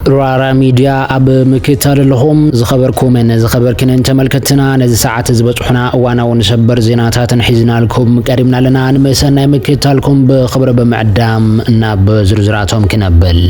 ራራ ሚድያ ኣብ ምክታል ኣለኹም። ዝኸበርኩምን ዝኸበርክንን ተመልከትትና ነዚ ሰዓት ዝበጽሑና እዋናውን ሰበር ዜናታትን ሒዝናልኩም ቀሪብና ኣለና። ንመሰናይ ምክታልኩም ብኽብሪ ብምዕዳም ናብ ዝርዝራቶም ክነብል።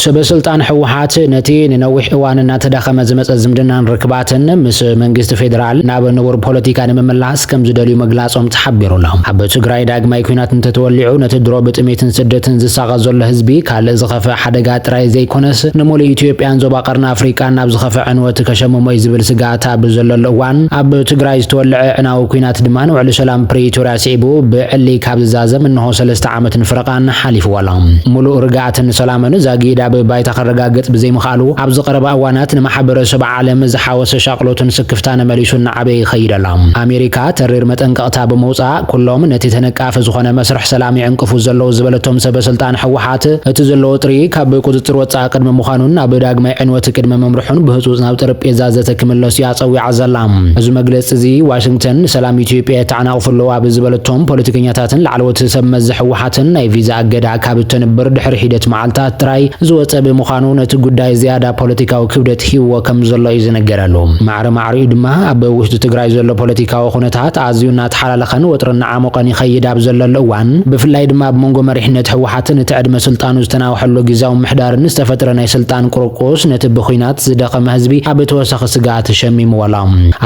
ሰበስልጣን ህወሓት ነቲ ንነዊሕ እዋን እናተዳኸመ ዝመፀ ዝምድናን ርክባትን ምስ መንግስቲ ፌዴራል ናብ ንቡር ፖለቲካ ንምምላስ ከም ዝደልዩ ምግላጾም ተሓቢሩ ኣሎ። ኣብ ትግራይ ዳግማይ ኲናት እንተተወሊዑ ነቲ ድሮ ብጥሜትን ስደትን ዝሳቐ ዘሎ ህዝቢ ካልእ ዝኸፍእ ሓደጋ ጥራይ ዘይኮነስ ንሙሉእ ኢትዮጵያን ዞባ ቀርኒ ኣፍሪቃን ናብ ዝኸፍእ ዕንወት ከሸምሞ'ዩ ዝብል ስግኣት ኣብ ዘለሉ እዋን ኣብ ትግራይ ዝተወልዐ ኣዕናዊ ኲናት ድማ ንውዕሊ ሰላም ፕሪቶርያ ስዒቡ ብዕሊ ካብ ዝዛዘም እነሆ ሰለስተ ዓመትን ፍረቓን ሓሊፍዎ ኣሎ። ሙሉእ ርግኣትን ሰላምን ዛጊድ ኣብ ባይታ ከረጋግጽ ብዘይምኽኣሉ ኣብዚ ቀረባ እዋናት ንማሕበረሰብ ዓለም ዝሓወሰ ሻቕሎትን ስክፍታን መሊሱ ኣበይ ይኸይድ ኣሎ? ኣሜሪካ ተሪር መጠንቀቕታ ብምውጻእ፣ ኩሎም ነቲ ተነቃፊ ዝኾነ መስርሕ ሰላም ይዕንቅፉ ዘለዉ ዝበለቶም ሰበስልጣን ህወሓት፣ እቲ ዘሎ ወጥሪ ካብ ቁጽጽር ወጻኢ ቅድሚ ምዃኑን ናብ ዳግማይ ዕንወት ቅድሚ ምምርሑን ብህጹጽ ናብ ጠረጴዛ ዘተ ክምለሱ እያ ጸዊዓ ዘላ። እዚ መግለጺ'ዚ፣ ዋሽንግተን ንሰላም ኢትዮጵያ የተዓናቕፉ ኣለዉ ኣብ ዝበለቶም ፖለቲከኛታትን ላዕለዎት ሰብመዚ ህወሓትን ናይ ቪዛ እገዳ ካብ እተንብር ድሕሪ ሒደት መዓልታት ጥራይ ዝወጸ ብምዃኑ፣ ነቲ ጉዳይ ዝያዳ ፖለቲካዊ ክብደት ሂብዎ ከምዘሎ እዩ ዝንገረሉ። ማዕረ ድሓሪኡ ድማ ኣብ ውሽጢ ትግራይ ዘሎ ፖለቲካዊ ኩነታት ኣዝዩ እናተሓላለኸን ወጥሪ እናዓሞቐን ይኸይድ ኣብ ዘለሉ እዋን ብፍላይ ድማ ኣብ መንጎ መሪሕነት ህወሓትን እቲ ዕድመ ስልጣኑ ዝተናውሐሉ ጊዚያዊ ምምሕዳርን ዝተፈጥረ ናይ ስልጣን ቁርቁስ ነቲ ብኩናት ዝደኸመ ህዝቢ ኣብ ተወሳኺ ስግኣት ሸሚምዎ ኣሎ።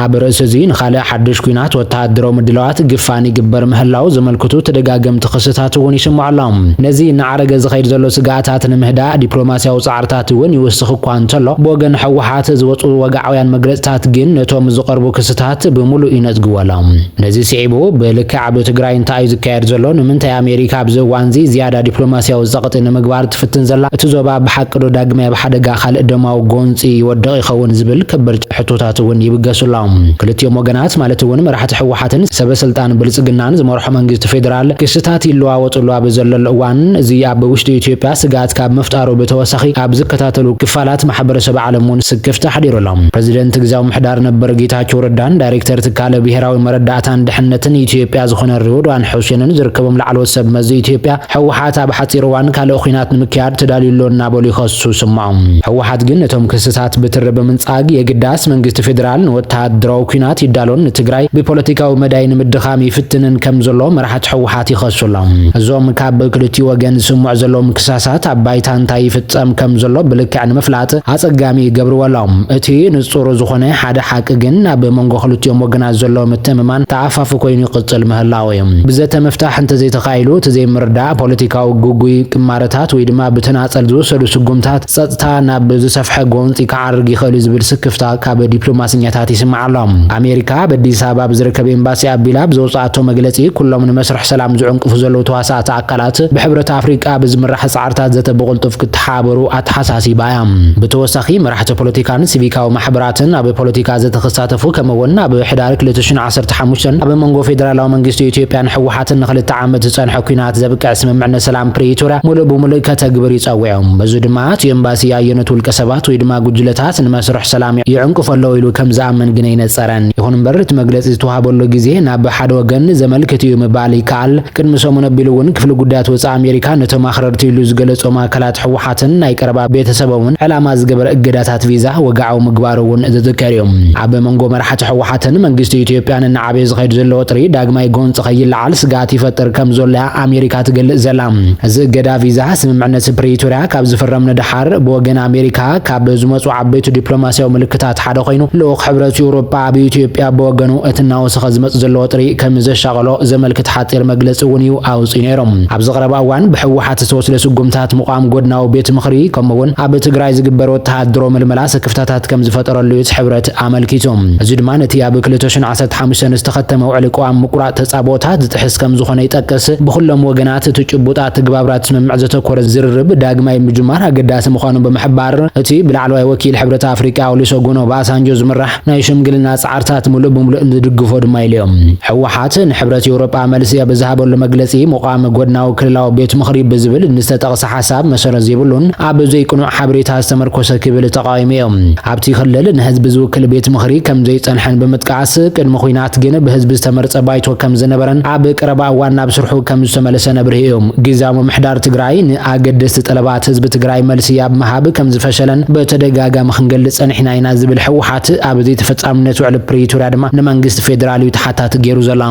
ኣብ ርእሲ እዚ ንኻልእ ሓዱሽ ኩናት ወተሃደራዊ ምድላዋት ግፋን ይግበር ምህላው ዘመልክቱ ተደጋገምቲ ክስታት እውን ይስምዑ ኣሎ። ነዚ እናዓረገ ዝኸይድ ዘሎ ስግኣታት ንምህዳእ ዲፕሎማሲያዊ ፃዕሪ ቁጽርታት እውን ይውስኽ እኳ እንተሎ፣ ብወገን ህወሓት ዝወጹ ወግዓውያን መግለጽታት ግን ነቶም ዝቐርቡ ክስታት ብምሉእ ይነጽግዎሎም። ነዚ ስዒቡ ብልክዕ ኣብ ትግራይ እንታይ'ዩ ዝካየድ ዘሎ፣ ንምንታይ ኣሜሪካ ኣብዚ እዋን'ዚ ዝያዳ ዲፕሎማስያዊ ጸቕጢ ንምግባር ትፍትን ዘላ፣ እቲ ዞባ ብሓቂዶ ዳግማይ ኣብ ሓደጋ ካልእ ደማዊ ጎንጺ ይወድቕ ይኸውን ዝብል ከበድቲ ሕቶታት እውን ይብገሱሎም። ክልቲኦም ወገናት ማለት እውን መራሕቲ ህወሓትን ሰበስልጣን ብልፅግናን ዝመርሖ መንግስቲ ፌዴራል ክስታት ይለዋወጥሉ ኣብ ዘለሉ እዋን እዚ ኣብ ውሽጢ ኢትዮጵያ ስግኣት ካብ ምፍጣሩ ብተወሳኺ ኣብ ዝከታተሉ ክፋላት ማሕበረሰብ ዓለም እውን ስክፍታ ኣሕዲሩ ኣሎ። ፕረዚደንት ግዝያዊ ምሕዳር ነበር ጌታቸው ረዳን ዳይሬክተር ትካለ ብሄራዊ መረዳእታን ድሕነትን ኢትዮጵያ ዝኾነ ሬድዋን ሑሴንን ዝርከቦም ላዕለዎት ሰብ መዚ ኢትዮጵያ ህወሓት ኣብ ሓፂር እዋን ካልእ ኹናት ንምክያድ ተዳልዩ ኣሎ እናበሉ ይኸሱ ይስምዑ። ህወሓት ግን ነቶም ክስታት ብትሪ ብምንፃግ የግዳስ መንግስቲ ፌዴራል ንወተሃደራዊ ኲናት ይዳሎን ንትግራይ ብፖለቲካዊ መዳይ ንምድኻም ይፍትንን ከምዘሎ መራሕቲ ህወሓት ይኸሱ ኣለው። እዞም ካብ ክልቲኡ ወገን ዝስምዑ ዘለውም ክሳሳት ኣብ ባይታ እንታይ ይፍፀም ከምዘሎ ብልክዕ ንምፍላጥ ኣፀጋሚ ይገብርዎ ኣለው። እቲ ንፁር ዝኾነ ሓደ ሓቂ ግን ኣብ መንጎ ክልቲኦም ወገናት ዘሎ ምትእምማን ተኣፋፊ ኮይኑ ይቕፅል ምህላው ኣወዮም። ብዘተ ምፍታሕ እንተዘይተኻኢሉ እቲ ዘይምርዳእ፣ ፖለቲካዊ ግጉይ ቅማረታት ወይ ድማ ብተናፀል ዝውሰዱ ስጉምታት ፀፅታ ናብ ዝሰፍሐ ጎንፂ ክዓርግ ይኽእል'ዩ ዝብል ስክፍታ ካብ ዲፕሎማሰኛታት ይስማዕ ኣሎ። ኣሜሪካ ኣብ ኣዲስ ኣበባ ብዝርከብ ኤምባሲኣ ኣቢላ ብዘውፀኣቶ መግለፂ ኩሎም ንመስርሕ ሰላም ዝዕንቅፉ ዘለዉ ተዋሳእቲ ኣካላት ብሕብረት ኣፍሪቃ ብዝምራሕ ፃዕ ኣብታ ዘተ ብቕልጡፍ ክተሓባበሩ ኣተሓሳሲባ እያ። ብተወሳኺ መራሕቲ ፖለቲካን ሲቪካዊ ማሕበራትን ኣብ ፖለቲካ ዘተ ክሳተፉ ከምኡ እውን ኣብ ሕዳር ክልተ ሽሕን ዓሰርተ ሓሙሽተን ኣብ መንጎ ፌደራላዊ መንግስቲ ኢትዮጵያን ህወሓትን ንክልተ ዓመት ዝፀንሐ ኲናት ዘብቅዕ ስምምዕነት ሰላም ፕሪቶርያ ሙሉእ ብሙሉእ ከተግብር እዩ ፀዊዑ። በዚ ድማ እቲ ኤምባሲ ኣየኖት ውልቀ ሰባት ወይ ድማ ጉጅለታት ንመስርሕ ሰላም ይዕንቅፉ ኣለው ኢሉ ከም ዝኣምን ግን ኣይነፀረን። ይኹን እምበር እቲ መግለፂ ዝተውሃበሉ ግዜ ናብ ሓደ ወገን ዘመልክት እዩ ምባል ይከኣል። ቅድሚ ሰሙን ኣቢሉ እውን ክፍሊ ጉዳያት ወፃኢ ኣሜሪካ ነቶም ኣኽረርቲ ኢሉ ዝገለፆም ኣካላት ህወሓትን ናይ ቀረባ ቤተሰቦምን ዕላማ ዝገበረ እገዳታት ቪዛ ወግዓዊ ምግባሩ እውን ዝዝከር እዩ። ኣብ መንጎ መራሕቲ ህወሓትን መንግስቲ ኢትዮጵያን እናዓበየ ዝኸይድ ዘሎ ወጥሪ ዳግማይ ጎንፂ ከይለዓል ስግኣት ይፈጥር ከምዘሎ እያ ኣሜሪካ ትገልፅ ዘላ። እዚ እገዳ ቪዛ ስምምዕነት ፕሪቶርያ ካብ ዝፍረም ንደሓር ብወገን ኣሜሪካ ካብ ዝመፁ ዓበይቲ ዲፕሎማሲያዊ ምልክታት ሓደ ኮይኑ ልኡኽ ሕብረት ኤውሮጳ ኣብ ኢትዮጵያ ብወገኑ እቲ እናወሰኸ ዝመጽእ ዘሎ ወጥሪ ከም ዘሻቐሎ ዘመልክት ሓጺር መግለጺ እውን እዩ ኣውጺኡ ነይሩ። ኣብዚ ቀረባ እዋን ብሕወሓት ዝተወስደ ስጉምታት ምቛም ጎድናዊ ቤት ምኽሪ ከምኡ እውን ኣብ ትግራይ ዝግበር ወተሃደሮ ምልመላ ስክፍታታት ከም ዝፈጠረሉ እዩ እቲ ሕብረት ኣመልኪቱ። እዚ ድማ ነቲ ኣብ ክልተ ሽሕን ዓሰርተ ሓሙሽተን ዝተኸተመ ውዕሊ ቅዋም ምቁራጽ ተጻብኦታት ዝጥሕስ ከም ዝኾነ ይጠቅስ። ብኹሎም ወገናት እቲ ጭቡጥ ኣተግባብራ እቲ ስምምዕ ዘተኮረ ዝርርብ ዳግማይ ምጅማር ኣገዳሲ ምዃኑ ብምሕባር እቲ ብላዕለዋይ ወኪል ሕብረት ኣፍሪቃ ኦሊሶጎን ኦባሳንጆ ዝምራሕ ናይ ሽምግልና ጻዕርታት ምሉእ ብምሉእ ንድግፎ ድማ ኢሉ እዮ። ህወሓት ንሕብረት ኤውሮጳ መልሲ ኣብ ዝሃበሉ መግለጺ ምቛም ጎድናዊ ክልላዊ ቤት ምኽሪ ብዝብል ንዝተጠቕሰ ሓሳብ መሰረት ዘይብሉን ኣብ ዘይቅኑዕ ሓበሬታ ዝተመርኮሰ ክብል ተቓዊሙ እዮ። ኣብቲ ክልል ንህዝቢ ዝውክል ቤት ምኽሪ ከም ዘይጸንሐን ብምጥቃስ ቅድሚ ኹናት ግን ብህዝቢ ዝተመርጸ ባይቶ ከም ዝነበረን ኣብ ቀረባ እዋን ናብ ስርሑ ከም ዝተመልሰን ኣብሪሁ እዮ። ግዝያዊ ምምሕዳር ትግራይ ን ኣገደስቲ ጠለባት ህዝቢ ትግራይ መልሲ ኣብ ምሃብ ከምዝፈሸለን በተደጋጋሚ ክንገልፅ ፀኒሕና ኢና ዝብል ህወሓት ኣብ ዘይተፈፃምነት ውዕሊ ፕሪቶርያ ድማ ንመንግስቲ ፌዴራል እዩ ተሓታቲ ገይሩ ዘሎ።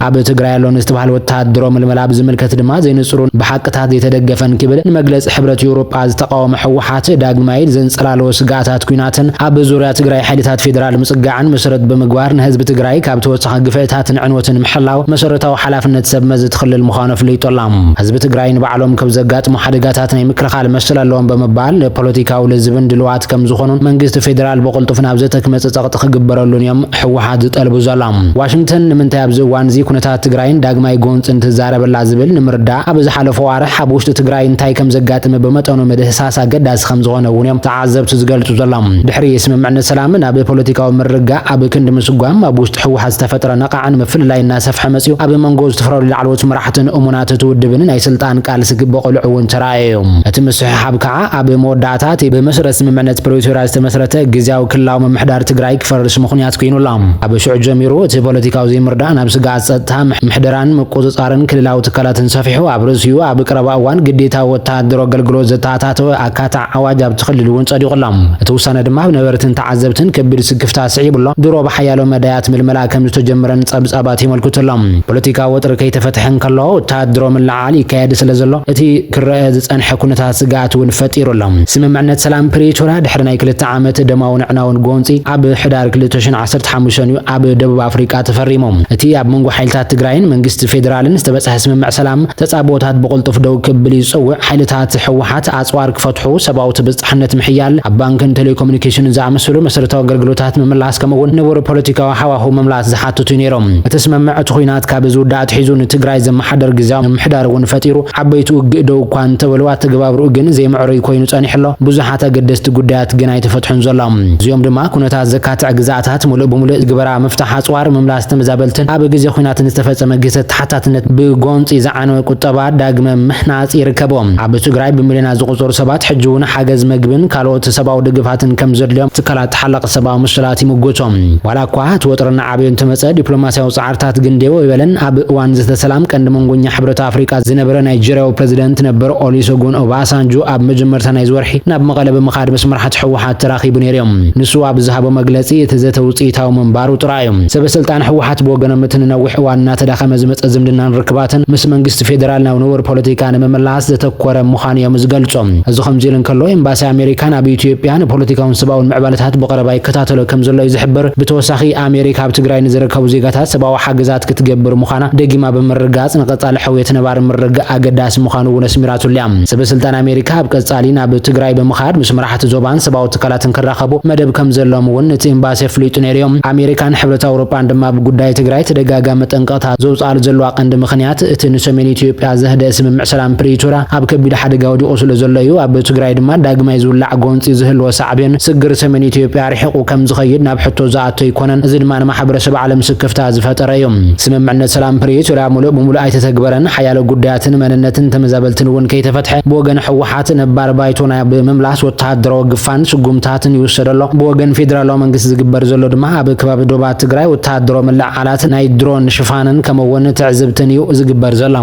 ኣብ ትግራይ ኣሎ ንዝተብሃለ ወታሃደራዊ ምልመላ ብዝምልከት ድማ ዘይንፁሩን ብሓቅታት ዘይተደገፈን ክብል ንመግለፂ ሕብረት ኤውሮጳ ዝተቓወመ ህወሓት ዳግማይ ዘንፀላለዎ ስግኣታት ኲናትን ኣብ ዙርያ ትግራይ ሓይልታት ፌዴራል ምፅጋዕን መሰረት ብምግባር ንህዝቢ ትግራይ ካብ ንኻ ግፍዕታትን ዕንወትን ምሕላው መሰረታዊ ሓላፍነት ሰብ መዚ እቲ ክልል ምዃኑ ኣፍሊጡ ኣሎ። ህዝቢ ትግራይ ንባዕሎም ከብ ዘጋጥሙ ሓደጋታት ናይ ምክልኻል መሰል ኣለዎም ብምባል ንፖለቲካዊ ልዝብን ድልዋት ከም ዝኾኑን መንግስቲ ፌደራል ብቕልጡፍ ናብ ዘተ ክመፅእ ፀቕጢ ክግበረሉን እዮም ህወሓት ዝጠልቡ ዘሎ። ዋሽንግተን ንምንታይ ኣብዚ እዋን እዚ ኩነታት ትግራይን ዳግማይ ጎንፅን ትዛረበላ ዝብል ንምርዳእ ኣብ ዝሓለፉ ኣዋርሕ ኣብ ውሽጢ ትግራይ እንታይ ከም ዘጋጥመ ብመጠኑ ምድህሳስ ኣገዳሲ ከም ዝኾነ እውን እዮም ተዓዘብቲ ዝገልፁ ዘሎም። ድሕሪ ስምምዕነት ሰላም ናብ ፖለቲካዊ ምርግጋእ፣ ኣብ ክንዲ ምስጓም፣ ኣብ ውሽጢ ህወሓት ዝተፈጥረ ነቓዕን ምፍልላይን እናሰፍሐ መፂኡ። ኣብ መንጎ ዝተፈላለዩ ላዕለዎት መራሕትን እሙናት እቲ ውድብን ናይ ስልጣን ቃልሲ ክበቖልዑ እውን ተራእዩ። እቲ ምስሕሓብ ከዓ ኣብ መወዳእታ እቲ ብመሰረት ስምምዕነት ፕሪቶርያ ዝተመስረተ ግዝያዊ ክልላዊ ምምሕዳር ትግራይ ክፈርስ ምኽንያት ኮይኑ ኣሎ። ካብ ሽዑ ጀሚሩ እቲ ፖለቲካዊ ዘይምርዳእ ናብ ስግኣት ፀጥታ፣ ምሕደራን ምቁፅፃርን ክልላዊ ትካላትን ሰፊሑ ኣብ ርእሲኡ ኣብ ቀረባ እዋን ግዴታዊ ወተሃደራዊ ኣገልግሎት ዘተኣታተወ ኣካታዒ ኣዋጅ ኣብቲ ክልል እውን ፀዲቑ ኣሎ። እቲ ውሳነ ድማ ኣብ ነበርትን ዓዘብትን ከቢድ ስክፍታ ኣስዒቡ ኣሎ። ድሮ ብሓያሎ መዳያት ምልመላ ከም ዝተጀመረን ጸብጻባት የመልክቱ ኣለው። ፖለቲካዊ ወጥሪ ከይተፈትሐ እንከሎ፣ ወተሃደራዊ ምልዕዓል ይካየድ ስለ ዘሎ፣ እቲ ክረኣ ዝጸንሐ ኩነታት ስግኣት እውን ፈጢሩ ኣሎ። ስምምዕነት ሰላም ፕሪቶርያ ድሕሪ ናይ ክልተ ዓመት ደማውን ኣዕናውን ጎንጺ፣ ኣብ ሕዳር ክልተ ሽሕን ዓሰርተ ሓሙሽተን እዩ ኣብ ደቡብ ኣፍሪቃ ተፈሪሙ። እቲ ኣብ መንጎ ሓይልታት ትግራይን መንግስቲ ፌደራልን ዝተበጽሐ ስምምዕ ሰላም፣ ተጻብኦታት ብቕልጡፍ ደው ክብል ይጽውዕ፣ ሓይልታት ህወሓት፣ ኣጽዋር ክፈትሑ፣ ሰብኣዊ ትብጻሕነት ምሕያል፣ ኣብ ባንክን ቴሌኮሙኒኬሽንን ዝኣመሰሉ መሰረታዊ ኣገልግሎታት ምምላስ ከምኡ'ውን ንቡር ፖለቲካዊ ሃዋህው ምምላስ ዝሓትት'ዩ ነይሮም። እቲ ስምምዕ እቲ ኹናት ካብ ዝውዳእ ኣትሒዙ ንትግራይ ዘመሓደር ግዝያዊ ምምሕዳር እውን ፈጢሩ፣ ዓበይቲ ውግእ ደው እኳ እንተበሉ ኣተገባብርኡ ግን ዘይምዕሩይ ኮይኑ ጸኒሑ ኣሎ፣ ብዙሓት ኣገደስቲ ጉዳያት ግን ኣይተፈትሑን ዘሎ። እዚኦም ድማ ኩነታት ዘካትዕ ግዝኣታት ሙሉእ ብሙሉእ ትግበራ፣ ምፍታሕ ኣጽዋር፣ ምምላስ፣ ተመዛበልትን ኣብ ግዜ ኹናትን ዝተፈጸመ ግህሰት ተሓታትነት ብጎንጺ ዝዓነወ ቁጠባ ዳግመ ምሕናጽ ይርከቦ። ኣብ ትግራይ ብምልዮናት ዝቑጸሩ ሰባት ሕጂ'ውን ሓገዝ መግብን ካልኦት ሰብኣዊ ደገፋትን ከምዘድልዮም ትካላት ተሓላቒ ሰብኣዊ መሰላት ይምጉቶ። ዋላ'ኳ እቲ ወጥሪ እናዓበዩ እንተመጸ ዲፕሎማስያዊ ጻዕርታት ግን ዴው ኣይበለን። ኣብ እዋን ዘተ ሰላም ቀንዲ መንጎኛ ሕብረት ኣፍሪቃ ዝነበረ ናይጀርያዊ ፕረዚደንት ነበር ኦሊሰጉን ኦባሳንጆ ኣብ መጀመርታ ናይዚ ወርሒ ናብ መቐለ ብምኻድ ምስ መራሕቲ ህወሓት ተራኺቡ ነይሩ'ዩ። ንሱ ኣብ ዝሃቦ መግለጺ እቲ ዘተ ውጽኢታዊ ምንባሩ ጥራይ እዩ። ሰበስልጣን ህወሓት ብወገኖም እቲ ንነዊሕ እዋን እናተዳኸመ ዝመፀ ዝምድናን ርክባትን ምስ መንግስቲ ፌደራል ናብ ንቡር ፖለቲካ ንምምላስ ዘተኮረ ምዃኑ እዮም ዝገልፁ። እዚ ከምዚሉ እንከሎ ኤምባሲ ኣሜሪካ ናብ ኢትዮጵያ ንፖለቲካውን ሰብኣውን ምዕባለታት ብቐረባ ይከታተሎ ከምዘሎ እዩ ዝሕብር። ብተወሳኺ ኣሜሪካ ኣብ ትግራይ ንዝርከቡ ዜጋታት ሰብኣዊ ሓገዛት ክትገብር ምዃና ደጊማ ብምርግጋፅ ንቐፃሊ ሕውየት ነባሪ ምርግጋእ ኣገዳሲ ምዃኑ እውን ኣስሚራትሉ እያ። ሰበስልጣን ኣሜሪካ ኣብ ቀፃሊ ናብ ትግራይ ብምኻድ ምስ ኣብቲ ዞባን ሰብኣዊ ትካላትን ክራኸቡ መደብ ከምዘለዎም እውን እቲ ኤምባሲ ኣፍሊጡ ነይሩዮ። ኣሜሪካን ሕብረት ኣውሮጳን ድማ ኣብ ጉዳይ ትግራይ ተደጋጋሚ መጠንቀቕታ ዘውፅኣሉ ዘለዋ ቀንዲ ምኽንያት እቲ ንሰሜን ኢትዮጵያ ዘህደእ ስምምዕ ሰላም ፕሪቶርያ ኣብ ከቢድ ሓደጋ ወዲቑ ስለዘሎ እዩ። ኣብ ትግራይ ድማ ዳግማይ ዝውላዕ ጎንፂ ዝህልዎ ሳዕቤን ስግር ሰሜን ኢትዮጵያ ኣርሒቑ ከምዝኸይድ ናብ ሕቶ ዝኣቱ ኣይኮነን። እዚ ድማ ንማሕበረሰብ ዓለም ስክፍታ ዝፈጠረ እዩ። ስምምዕነት ሰላም ፕሪቶርያ ሙሉእ ብሙሉእ ኣይተተግበረን፣ ሓያሎ ጉዳያትን መንነትን ተመዛበልትን እውን ከይተፈትሐ ብወገን ህወሓት ናብቲ ነባር ባይቶና ብምምላስ ወተሃደራዊ ግፋን ስጉምታትን ይውሰድ ኣሎ። ብወገን ፌደራላዊ መንግስቲ ዝግበር ዘሎ ድማ ኣብ ከባቢ ዶባት ትግራይ ወተሃደራዊ ምልዕዓላት፣ ናይ ድሮን ሽፋንን ከምኡ'ውን ትዕዝብትን እዩ ዝግበር ዘሎ።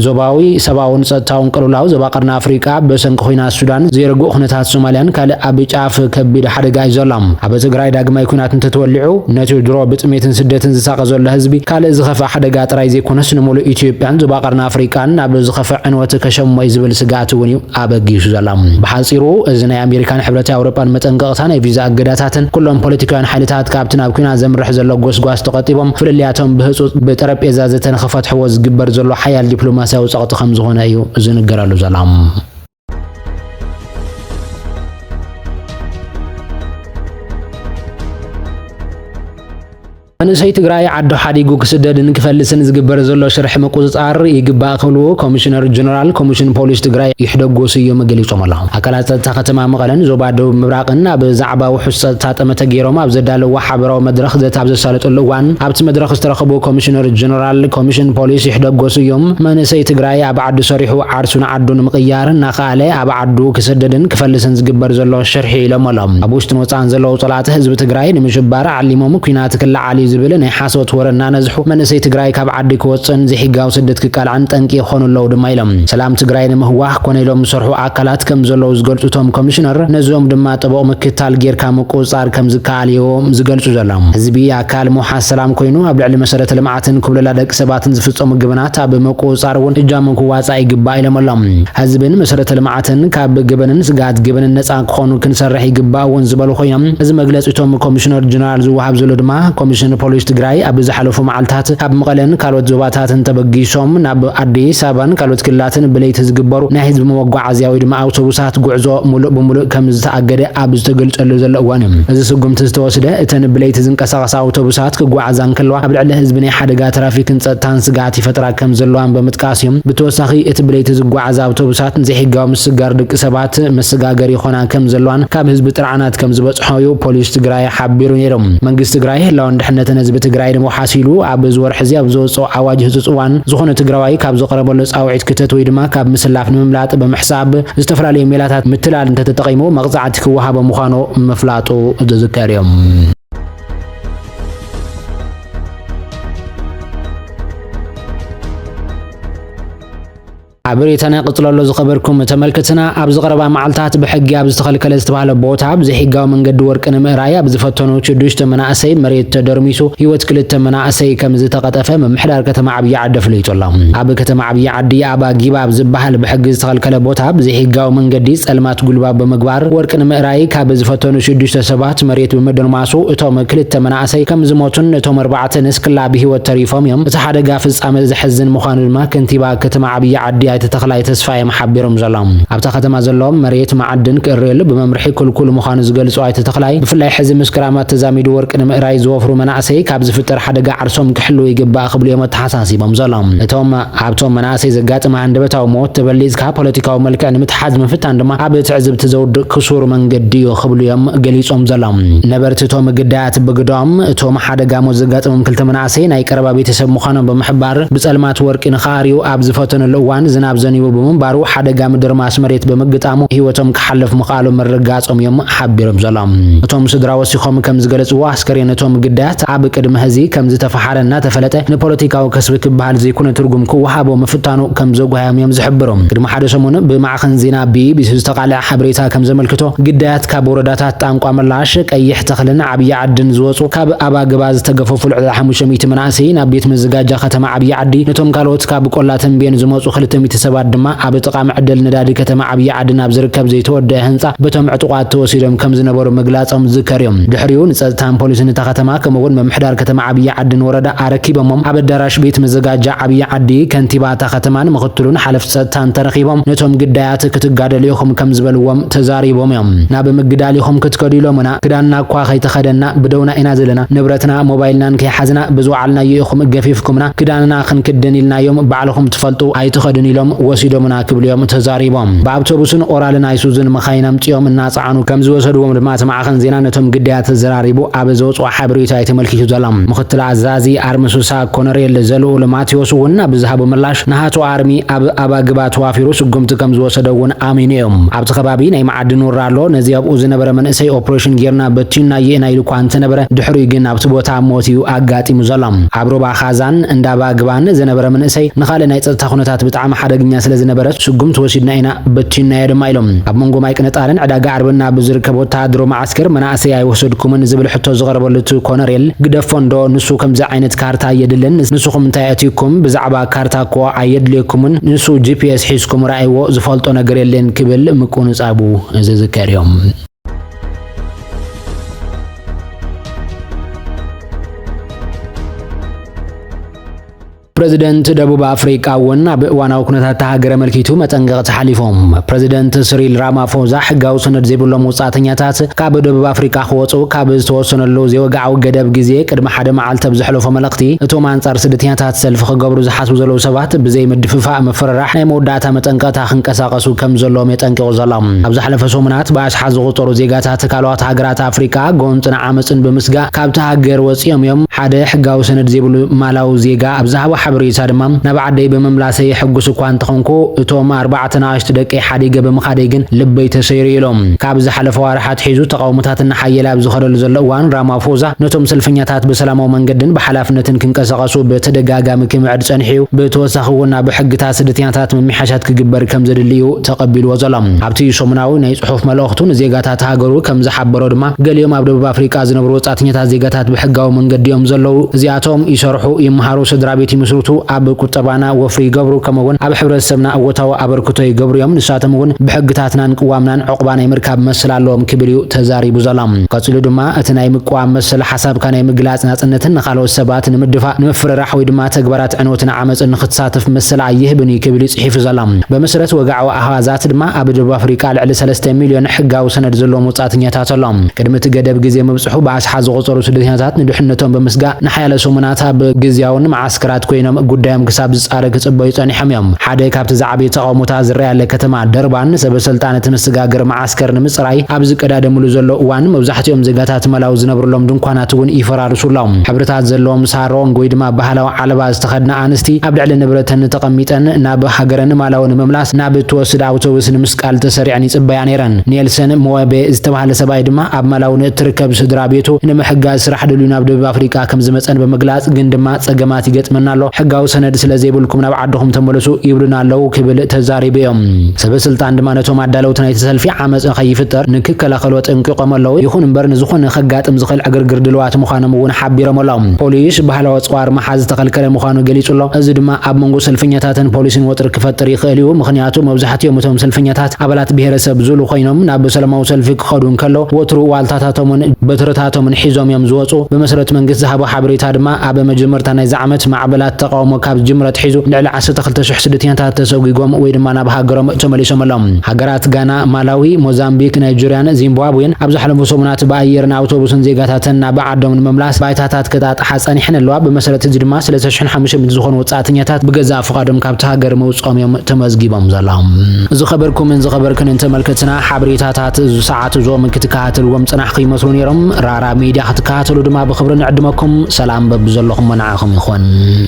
ዞባዊ ሰብኣውን ጸጥታውን ቅልውላው ዞባ ቀርኒ ኣፍሪቃ ብሰንኪ ኲናት ሱዳን፣ ዘይርጉእ ኵነታት ሶማልያን ካልእ ኣብ ጫፍ ከቢድ ሓደጋ እዩ ዘሎ። ኣብ ትግራይ ዳግማይ ኲናት እንተተወሊዑ፣ ነቲ ድሮ ብጥሜትን ስደትን ዝሳቐ ዘሎ ህዝቢ ካልእ ዝኸፍኣ ሓደጋ ጥራይ ዘይኮነስ ንምሉእ ኢትዮጵያን ዞባ ቀርኒ ኣፍሪቃን ናብ ዝኸፍእ ዕንወት ከሸሞ እዩ ዝብል ስግኣት ምኽንያት እውን እዩ ኣበጊሱ ዘሎ። ብሓጺሩ እዚ ናይ ኣሜሪካን ሕብረት ኣውሮጳን መጠንቀቕታ፣ ናይ ቪዛ እገዳታትን ኩሎም ፖለቲካውያን ሓይልታት ካብቲ ናብ ኲናት ዘምርሕ ዘሎ ጎስጓስ ተቖጢቦም ፍልልያቶም ብህጹጽ ብጠረጴዛ ዘተ ንኽፈትሕዎ ዝግበር ዘሎ ሓያል ዲፕሎማስያዊ ጸቕጢ ከም ዝኾነ እዩ ዝንገረሉ ዘሎ። መንእሰይ ትግራይ ዓዱ ሓዲጉ ክስደድን ክፈልስን ዝግበር ዘሎ ሽርሒ ምቁፅፃር ይግባእ ክብሉ ኮሚሽነር ጀነራል ኮሚሽን ፖሊስ ትግራይ ይሕደጎ ስዩም ገሊፆም ኣለው። ኣካላት ፀጥታ ከተማ መቐለን ዞባ ደቡብ ምብራቕን ኣብ ዛዕባ ውሑስ ፀጥታ ጠመተ ገይሮም ኣብ ዘዳለውዎ ሓበራዊ መድረኽ ዘተ ኣብ ዘሳለጥሉ እዋን ኣብቲ መድረኽ ዝተረኸቡ ኮሚሽነር ጀነራል ኮሚሽን ፖሊስ ይሕደጎ ስዩም መንእሰይ ትግራይ ኣብ ዓዱ ሰሪሑ ዓርሱ ንዓዱ ንምቕያር እናኸኣለ ኣብ ዓዱ ክስደድን ክፈልስን ዝግበር ዘሎ ሽርሒ እዩ ኢሎም'ሎ። ኣብ ውሽጥን ወጻእን ዘለዉ ጸላእቲ ህዝቢ ትግራይ ንምሽባር ዓሊሞም ኲናት ክለዓል እዩ ዝብል ናይ ሓሶት ወረ እናነዝሑ መንእሰይ ትግራይ ካብ ዓዲ ክወጽእን ዘይሕጋዊ ስደት ክቃላዕን ጠንቂ ይኾኑ ኣለዉ ድማ ኢሎም። ሰላም ትግራይ ንምህዋኽ ኮነ ኢሎም ዝሰርሑ ኣካላት ከም ዘለዉ ዝገልጹ እቶም ኮሚሽነር፣ ነዚኦም ድማ ጥቡቕ ምክትታል ጌርካ ምቁጽጻር ከም ዝከኣል እዩ ዝገልጹ ዘሎ። ህዝቢ ኣካል ምውሓስ ሰላም ኮይኑ ኣብ ልዕሊ መሰረተ ልምዓት፣ ትን ኩብለላ ደቂ ሰባትን ዝፍፀሙ ገበናት ኣብ ምቁፅፃር እውን እጃሞም ክዋፃእ ይግባእ ኢሎም ኣሎም። ህዝብን መሰረተ ልምዓትን ካብ ገበንን ስግኣት ገበንን ነፃ ክኾኑ ክንሰርሕ ይግባእ እውን ዝበሉ ኮይኖም እዚ መግለፂ እቶም ኮሚሽነር ጀነራል ዝወሃብ ዘሎ ድማ ኮሚሽን ፖሊስ ትግራይ ኣብ ዝሓለፉ መዓልታት ካብ መቐለን ካልኦት ዞባታትን ተበጊሶም ናብ ኣዲስ ኣበባን ካልኦት ክልላትን ብለይቲ ዝግበሩ ናይ ህዝቢ መጓዓዝያ ወይ ድማ ኣውቶቡሳት ጉዕዞ ሙሉእ ብሙሉእ ከምዝተኣገደ ኣብ ዝተገልፀሉ ዘሎ እዋን እዩ እዚ ስጉምቲ ዝተወስደ እተን ብለይቲ ዝንቀሳቐሳ ኣውቶቡሳት ክጓዓዛ እንከለዋ ኣብ ልዕሊ ህዝቢ ናይ ሓደጋ ትራፊክን ጸጥታን ስግኣት ይፈጥራ ከም ዘለዋን ብምጥቃስ እዩ። ብተወሳኺ እቲ ብለይቲ ዝጓዓዛ ኣውቶቡሳት ንዘይሕጋዊ ምስጋር ደቂ ሰባት መሰጋገሪ ይኾና ከም ዘለዋን ካብ ህዝቢ ጥርዓናት ከም ዝበጽሖ እዩ ፖሊስ ትግራይ ሓቢሩ ነይሩ። መንግስቲ ትግራይ ህላወን ድሕነትን ህዝቢ ትግራይ ንምውሓስ ኢሉ ኣብ እዚ ወርሒ እዚ ኣብ ዘወጽኦ ኣዋጅ ህጹጽ እዋን ዝኾነ ትግራዋይ ካብ ዝቐረበሉ ጻውዒት ክተት ወይ ድማ ካብ ምስላፍ ንምምላጥ ብምሕሳብ ዝተፈላለዩ ሜላታት ምትላል እንተተጠቒሙ መቕጻዕቲ ክወሃቦ ምዃኑ ምፍላጡ ዝዝከር እዩ። ሓበሬታና ቀጽሎ ኣሎ ዝኸበርኩም ተመልክትና ኣብዚ ቀረባ መዓልታት ብሕጊ ኣብ ዝተኸልከለ ዝተባሃለ ቦታ ብዘይሕጋዊ መንገዲ ወርቂ ንምእራይ ኣብ ዝፈተኑ ሽዱሽተ መናእሰይ መሬት ተደርሚሱ ህይወት ክልተ መናእሰይ ከም ዝተቐጠፈ ምምሕዳር ከተማ ዓብዪ ዓዲ ኣፍሊጡ ኣሎ። ኣብ ከተማ ዓብዪ ዓዲ ኣባ ጊባ ኣብ ዝበሃል ብሕጊ ዝተኸልከለ ቦታ ብዘይሕጋዊ መንገዲ ጸልማት ጉልባብ ብምግባር ወርቂ ንምእራይ ካብ ዝፈተኑ ሽዱሽተ ሰባት እቲ መሬት ብምድርማሱ እቶም ክልተ መናእሰይ ከም ዝሞቱን እቶም ኣርባዕተ ንስክላ ብህይወት ተሪፎም እዮም። እቲ ሓደጋ ፍጻመ ዘሕዝን ምዃኑ ድማ ከንቲባ ከተማ ዓብዪ ዓዲ ኣይተ ተኽላይ ተስፋየም ሓቢሮም ዘሎ ኣብታ ከተማ ዘሎ መሬት መዓድን ክእረየሉ ብመምርሒ ክልኩል ምዃኑ ዝገልጹ ኣይተ ተኽላይ ብፍላይ ሕዚ ምስ ክራማት ተዛሚዱ ወርቂ ንምእራይ ዝወፍሩ መናእሰይ ካብ ዝፍጠር ሓደጋ ዓርሶም ክሕልዉ ይግባእ ክብሉ እዮም ኣተሓሳሲቦም ዘሎ። እቶም ኣብቶም መናእሰይ ዘጋጥም ሃንደበታዊ ሞት ተበሊፅካ ፖለቲካዊ መልክዕ ንምትሓዝ ምፍታን ድማ ኣብ ትዕዝብቲ ዘውድቕ ክሱር መንገዲ እዩ ክብሉ እዮም ገሊፆም ዘሎም ነበርቲ እቶም ግዳያት። ብግደኦም፣ እቶም ሓደጋ ሞት ዘጋጠሞም ክልተ መናእሰይ ናይ ቀረባ ቤተሰብ ምዃኖም ብምሕባር፣ ብፀልማት ወርቂ ንኽኣርዩ ኣብ ዝፈተንሉ እዋን ዝናብ ዘኒቡ ብምንባሩ ሓደጋ ምድርማስ መሬት ብምግጣሙ ህይወቶም ክሓልፍ ምኽኣሉ ምርግጋፆም እዮም ሓቢሮም ዘሎም እቶም ስድራ ወሲኾም ከምዝገለፅዎ። ኣስከሬን እቶም ግዳያት ኣብ ቅድመ ህዚ ከም ዝተፈሓረ እናተፈለጠ ንፖለቲካዊ ከስቢ ክበሃል ዘይኮነ ትርጉም ክወሃቦ ምፍታኑ ከም ዘጓህዮም እዮም ዝሕብሩ። ቅድሚ ሓደ ሰሙን ብማዕኸን ዜና ቢኢቢሲ ዝተቃልዐ ሓበሬታ ከም ዘመልክቶ ግዳያት ካብ ወረዳታት ጣንቋ ምላሽ፣ ቀይሕ ተኽልን ዓብዪ ዓድን ዝወፁ ካብ ኣባግባ ዝተገፈፉ ልዕሊ ሓሙሽተ ሚእቲ መናእሰይ ናብ ቤት መዘጋጃ ከተማ ዓብዪ ዓዲ ነቶም ካልኦት ካብ ቆላ ተምቤን ዝመፁ ክልተ ሚእቲ ሰባት ድማ ኣብ ጥቓ መዐደሊ ነዳዲ ከተማ ዓብዪ ዓዲ ናብ ዝርከብ ዘይተወደኣ ህንጻ በቶም ዕጡቓት ተወሲዶም ከም ዝነበሩ ምግላጾም ዝዝከር እዩ። ድሕሪኡ ንጸጥታን ፖሊስን እታ ከተማ ከምኡ'ውን ምምሕዳር ከተማ ዓብዪ ዓዲን ወረዳ ኣረኪቦሞም። ኣብ ኣዳራሽ ቤት መዘጋጃ ዓብዪ ዓዲ፣ ከንቲባ እታ ከተማን ምኽትሉን ሓለፍቲ ጸጥታን ተረኺቦም ነቶም ግዳያት ክትጋደሉ ኢኹም ከም ዝበልዎም ተዛሪቦም እዮም። ናብ ምግዳል ኢኹም ክትከዱ ኢሎሙና፣ ክዳንና እኳ ከይተኸደንና ብደውና ኢና ዘለና፣ ንብረትና ሞባይልናን ከይሓዝና ብዝወዓልናዮ ኢኹም ገፊፍኩምና፣ ክዳንና ክንክድን ኢልናዮም ባዕልኹም ዝፈልጡ ኣይትኸድን ኢሎም ወሲዶምና ክብሉ'ዮም ተዛሪቦም። ብኣውቶቡስን ኦራልን ኣይሱዙን መኻይን ኣምጺኦም እናጸዓኑ ከምዝወሰድዎም ድማ እቲ ማዕኸን ዜና ነቶም ግዳያት ተዘራሪቡ ኣብ ዘውጽኦ ሓበሬታ'ዩ ተመልኪቱ ዘሎ። ምኽትል ኣዛዚ ኣርሚ ሱሳ ኮነሬል ዘልኡል ማቴዎስ'ውን ኣብ ዝሃቦ ምላሽ ናሃቱ ኣርሚ ኣብ ኣባግባ ተዋፊሩ ስጉምቲ ከምዝወሰደ'ውን ኣሚኑ'ዩ። ኣብቲ ከባቢ ናይ መዓድን ውራ ኣሎ፣ ነዚ ኣብኡ ዝነበረ መንእሰይ ኦፕሬሽን ጌርና በቲኑናዮኢና ኢሉ'ኳ እንተነበረ ድሕሪኡ ግን ኣብቲ ቦታ ኣብ ሞት እዩ ኣጋጢሙ ዘሎ። ኣብ ሩባ ኻዛን፣ እንዳ ባግባን፣ ዝነበረ መንእሰይ ንኻልእ ናይ ጸጥታ ኩነታት ብጣዕሚ ሓደግኛ ስለ ዝነበረ ስጉምቲ ወሲድና ኢና በቲንናዮ ድማ ኢሉ። ኣብ መንጎ ማይ ቅነጣርን ዕዳጋ ዓርብን ኣብ ዝርከብ ወተሃደርዊ መዓስከር መናእሰይ ኣይወሰድኩምን ዝብል ሕቶ ዝቐረበሉ እቲ ኮነሬል ግደፎ እንዶ ንሱ ከምዚ ዓይነት ካርታ ኣየድልን ንስኹም እንታይ ኣእቲኩም ብዛዕባ ካርታ እኮ ኣየድልየኩምን ንሱ ጂፒኤስ ሒዝኩም ርኣይዎ ዝፈልጦ ነገር የለን ክብል ምቁንጻቡ ዝዝከር እዩ። ፕረዚደንት ደቡብ ኣፍሪቃ እውን ኣብ እዋናዊ ኩነታት እታ ሃገር ኣመልኪቱ መጠንቀቕቲ ሓሊፎም ፕረዚደንት ስሪል ራማፎዛ ሕጋዊ ሰነድ ዘይብሎም ወጻእተኛታት ካብ ደቡብ ኣፍሪቃ ክወጹ ካብ ዝተወሰነሉ ዘይወግዓዊ ገደብ ግዜ ቅድሚ ሓደ መዓልቲ ኣብ ዘሕለፎ መልእኽቲ እቶም ኣንጻር ስደተኛታት ሰልፊ ክገብሩ ዝሓስቡ ዘለዉ ሰባት ብዘይ ምድፍፋእ ምፍርራሕ ናይ መወዳእታ መጠንቀቕታ ክንቀሳቐ ክቃለሱ ከም ዘለዎም የጠንቂቑ ዘሎ። ኣብ ዝሓለፈ ሰሙናት ብኣሽሓት ዝቑጸሩ ዜጋታት ካልኦት ሃገራት ኣፍሪቃ ጎንጽን ዓመጽን ብምስጋእ ካብታ ሃገር ወጺኦም እዮም። ሓደ ሕጋዊ ሰነድ ዘይብሉ ማላዊ ዜጋ ኣብ ዝሃቦ ሓበሬታ ድማ ናብ ዓደይ ብምምላሰይ ሕጉስ እኳ እንተኾንኩ እቶም ኣርባዕተ ንኣሽቱ ደቀይ ሓዲገ ብምኻደይ ግን ልበይ ተሰይሩ ኢሉ። ካብ ዝሓለፈ ኣዋርሕ ኣትሒዙ ተቓውሞታት እናሓየለ ኣብ ዝኸደሉ ዘሎ እዋን ራማፎዛ ነቶም ሰልፈኛታት ብሰላማዊ መንገድን ብሓላፍነትን ክንቀሳቐሱ ብተደጋጋሚ ክምዕድ ጸኒሑ'ዩ። ብተወሳኺ'ውን ኣብ ሕግታት ስደተኛታት ምምሕያሽ ዓሻት ክግበር ከም ዘድሊ'ዩ ተቐቢልዎ ዘሎ። ኣብቲ ሰሙናዊ ናይ ጽሑፍ መልእኽቱ ንዜጋታት ሃገሩ ከም ዝሓበሮ ድማ፣ ገሊኦም ኣብ ደቡብ ኣፍሪቃ ዝነብሩ ወጻእተኛታት ዜጋታት ብሕጋዊ መንገዲ'ዮም ዘለዉ። እዚኣቶም ይሰርሑ፣ ይመሃሩ፣ ስድራቤት ይምስርቱ፣ ኣብ ቁጠባና ወፍሪ ይገብሩ፣ ከምኡ'ውን ኣብ ሕብረተሰብና እወታዊ ኣበርክቶ ይገብሩ'ዮም። ንሳቶም'ውን ብሕግታትናን ቅዋምናን ዑቕባ ናይ ምርካብ መሰል ኣለዎም ክብል'ዩ ተዛሪቡ ዘሎ። ቀጺሉ ድማ፣ እቲ ናይ ምቅዋም መሰል፣ ሓሳብካ ናይ ምግላጽ ናጽነትን ንኻልኦት ሰባት ንምድፋእ፣ ንምፍርራሕ ወይ ድማ ተግባራት ዕንወትን ዓመጽን ንክትሳተፍ መሰል ኣይህብን እዩ ክብል እዩ ጽሒፉ ዘሎ። በመሰረት ወግዓዊ ኣሃዛት ድማ ኣብ ደቡብ ኣፍሪቃ ልዕሊ ሰለስተ ሚልዮን ሕጋዊ ሰነድ ዘለዎም ወጻእተኛታት ኣሎ። ቅድሚ እቲ ገደብ ግዜ ምብጽሑ ብኣሽሓት ዝቑጸሩ ስደተኛታት ንድሕነቶም ብምስጋእ ንሓያለ ሰሙናት ኣብ ግዝያውን መዓስከራት ኮይኖም ጉዳዮም ክሳብ ዝጻረ ክጽበዩ ጸኒሖም እዮም። ሓደ ካብቲ ዝዓበየ ተቓውሞታት ዝረኣየለ ከተማ ደርባን ሰበሰልጣን እቲ መሰጋገሪ መዓስከር መዓስከር ንምጽራይ ኣብ ዝቀዳደምሉ ዘሎ እዋን መብዛሕትኦም ዜጋታት መላው ዝነብርሎም ድንኳናት እውን ይፈራርሱ ኣሎም። ሕብርታት ዘለዎም ሳሮንግ ወይ ድማ ባህላዊ ዓለባ ዝተኸድና ኣንስቲ ኣብ ልዕሊ ንብረተን ተቐሚጠን ናብ ሃገረን ማላዊ ንምምላስ ናብ እትወስድ ኣውቶብስ ንምስቃል ተሰሪዐን ይጽበያ ነይረን። ኔልሰን ምወቤ ዝተባህለ ሰብኣይ ድማ ኣብ ማላዊ ንእትርከብ ስድራ ቤቱ ንምሕጋዝ ስራሕ ደልዩ ናብ ደቡብ ኣፍሪቃ ከምዝመጸን ብምግላጽ ግን ድማ ጸገማት ይገጥመና ኣሎ፣ ሕጋዊ ሰነድ ስለ ዘይብልኩም ናብ ዓድኹም ተመለሱ ይብሉና ኣለዉ ክብል ተዛሪቡ ኢዩ። ሰበስልጣን ድማ ነቶም ኣዳለውቲ ናይቲ ሰልፊ ዓመጽ ንኸይፍጠር ንክከላኸሉ ኣጠንቂቖም ኣለዉ። ይኹን እምበር ንዝኾነ ከጋጥም ዝኽእል ዕግርግር ድልዋት ምዃኖም እውን ሓቢሮም ኣለው። ፖሊስ ባህላዊ ኣጽዋር ምሓዝ ዝተኸልከለ ምዃኑ ገሊጹ ኣሎ። እዚ ድማ ኣብ መንጎ ሰልፈኛታትን ፖሊስን ወጥሪ ክፈጥር ይኽእል ኢዩ። ምኽንያቱ መብዛሕቲኦም እቶም ሰልፈኛታት ኣባላት ብሄረሰብ ዙሉ ኮይኖም ናብ ሰለማዊ ሰልፊ ክኸዱ እንከለው ወትሩ ዋልታታቶምን በትርታቶምን ሒዞም ኢዮም ዝወጹ። ብመሰረት መንግስት ዝሃቦ ሓበሬታ ድማ ኣብ መጀመርታ ናይዚ ዓመት ማዕበላት ተቓውሞ ካብ ዝጅምር ኣትሒዙ ልዕሊ ዓሰርተ ክልተ ሽሕ ስደተኛታት ተሰጒጎም ወይ ድማ ናብ ሃገሮም ተመሊሶም ኣሎም። ሃገራት ጋና፣ ማላዊ፣ ሞዛምቢክ፣ ናይጀርያን ዚምባብዌን ኣብ ዝሓለፉ ሰሙናት ብኣየርን ኣውቶቡስን ዜጋታተን ናብ ዓዶም ንምምላስ ባይታታት ከጣጥሓ ጸኒሐን ኣለዋ። ብመሰረት እዚ ድማ ሰለስተ ሽሕን ሓሙሽተ ሚእትን ዝኾኑ ወጻእተኛታት ብገዛእ ፍቓዶም ካብቲ ሃገር ምውጽኦም እዮም ተመዝጊቦም ዘሎም። ዝኸበርኩምን ዝኸበርክንን ተመልከትና ሓበሬታታት እዚ ሰዓት እዞም ክትከታተልዎም ዝጸናሕኩ ይመስሉ ኔሮም። ኣብ ሚድያ ክትከታተሉ ድማ ብኽብሪ ንዕድመኩም። ሰላም በብዘለኹሞ ንዓኹም ይኹን።